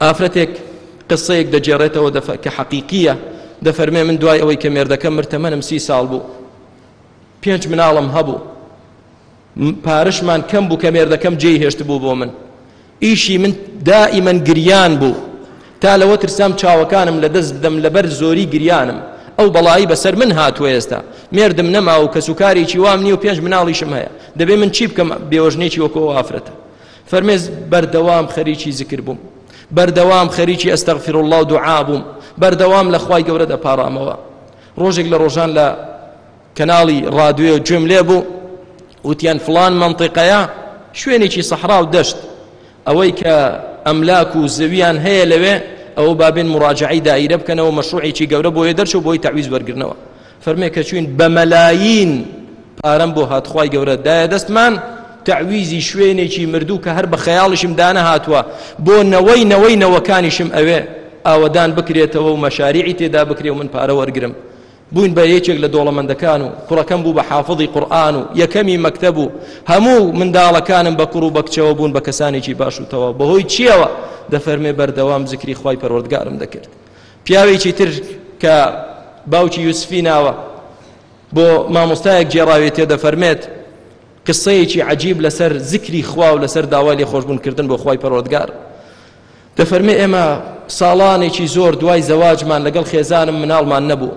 ئافرەتێک قسەیەک دەگێڕێتەوە دەفە کە حەقیقیە دەفەرمێ من دوای ئەوەی کە مێردەکە مرتەمەنم سی ساڵ بوو پێنج مناڵم هەبوو پارشمان کەم بوو کە مێردەکەم جێی هێشت بوو بۆ من ئیشی من دائیمەن گریان بوو تا لەوە ترسام چاوەکانم لە دەست بدەم لەبەر زۆری گریانم ئەو بەڵایی بەسەر من هاتووە ئێستا مێردم نەما و کەسوکارێکی وام نیە و پێنج مناڵیشم هەیە دەبێ من چی بکەم بێوەژنێکی وەکۆ ئافرەتە فەرمێز بەردەوام خەریکی زکر بووم بەردەوام خەریکی ئەستەغفر الله و دوعا بووم بەردەوام لە خوای گەورە دەپارامەوە ڕۆژێک لە ڕۆژان لە کەناڵی ڕادوێ گوێم لێ بوو وتیان فلان منطقەیە شوێنێکی سەحرا و دەشت ئەوەی کە ئەملاک و زەویان هەیە لەوێ ئەو بابێن مراجعی دایرە بکەنەوە مەشروعێکی گەورە بۆیە دەرچوو بۆی تعویز وەرگرنەوە فەرمێ کە چوین بە مەلایین پارەم بۆ هات خوای گەورە دایە دەستمان تعویزی شوێنێکی مردوو کە هەر بە خەیاڵیشم دانەهاتووە بۆ نەوەی نەوەی نەوەکانیشم ئەوێ ئاوەدان بکرێتەوە و مەشاریعی تێدا بکرێ و من پارە وەرگرم بووین بە یەکێک لە دۆڵەمەندەکان و کوڕەکەم بوو بە حافظی قورآن و یەکەمی مەکتەب و هەموو منداڵەکانم بە کوڕ و بەکچەوە بوون بە کەسانێکی باش و تەواو بەهۆی چیەوە دەفەرمێ بەردەوام زکری خی پەروەردگارم دەکرد پیاوێکی تر کە باوکی یوسفی ناوە بۆ مامۆستایەک گێڕاوێتێ دەفەرمێت قسەیەکی عجیب لەسەر زیکری خوا و لەسەر داوای لێ خۆشببوونکردن بۆ خی پەرۆدگار دەفەرمێ ئێمە ساڵانێکی زۆر دوای زەواجمان لەگەڵ خێزانم مناڵمان نەبوو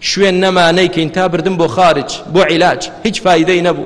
شوێن نەمانەیکەین تا بردم بۆ خارج بۆ عیلاج هیچ فیدەی نەبوو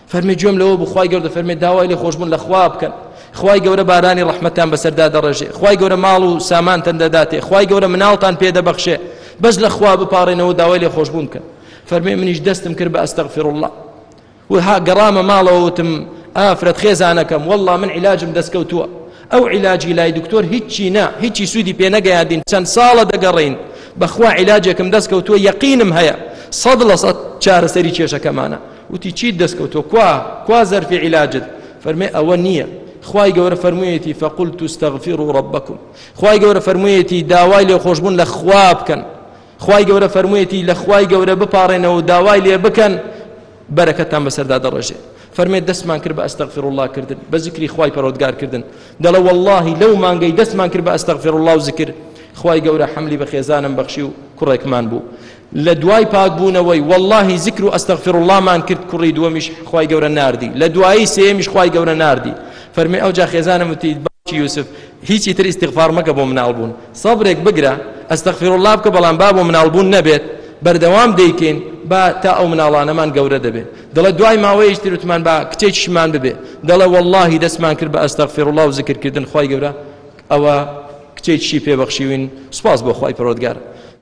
فەرمی گوێم لەوە بوو خوای گەورە فەرمی داوای لێ خۆشبوون لە خوا بکەن خوای گەورە بارانی ڕەحمەتان بەسەردا دەڕێژێ خوای گەورە ماڵ و سامانتان دەداتێ خوای گەورە مناڵتان پێدەبەخشێ بەس لە خوا بپارێنەوە داوای لێ خۆشبوون بکەن فەرمی منیش دەستم کرد بە ئەستەغفر الله و ها گەڕامە ماڵەوە وتم ئافرەت خێزانەکەم والله من علاجم دەستکەوتووە ئەو علاجی لای دکتۆر هیچی نا هیچی سوودی پێ نەگەیاندین چەند ساڵە دەگەڕین بەخوا علاجێکم دەستکەوتووە یەقینم هەیە سەد لە سەد چارەسەری کێشەکەمانە وتی چیت دەست کەوتوە کوا کوا زەرفی عیلاجت فەرمێ ئەوە نییە خوای گەورە فەرموویەتی فەقول توستەغفیر و ڕبەکم خوای گەورە فەرموویەتی داوای لێ خۆشببوون لە خوا بکەن خوای گەورە فەرموویەتی لە خوای گەورە بپارێنەوە و داوای لێ بکەن بەرەکەتان بەسەردا دەڕێژێ فەرمێ دەستمان کرد بە ئەستەغفر الله کردن بە زیکری خوای پەرۆدگار کردن دەڵە واللهی لەو مانگەی دەستمان کرد بە ئەستەغفر الله و زیکر خوای گەورە حملی بە خێزانم بەخشی و کوڕێکمان بوو لە دوای پاک بوونەوەی واللەهی زکر و استغفر اللە مان کرد کوڕی دووەمیش خوای گەورە ناردی لە دوایی سێیەمیش خوای گەورە ناردی فەرمی ئەوجا خێزانم وتی باوکی یوسف هیچی تر استغفار مەکە بۆ مناڵ بوون سەبرێک بگرە استغفر اللە بکە بەڵام با بۆ مناڵ بوون نەبێت بەردەوام دەیکەین با تا ئەو مناڵانەمان گەورە دەبێت دەڵێ دوای ماوەیەش ترتمان با کچێکیشمان ببێ دەڵێ واللهی دەستمان کرد بە ئەستەغفر الله و زکرکردن خی گەورە ئەوە کچێکشی پێبەخشیوین سوپاس بۆ خی پرۆدگار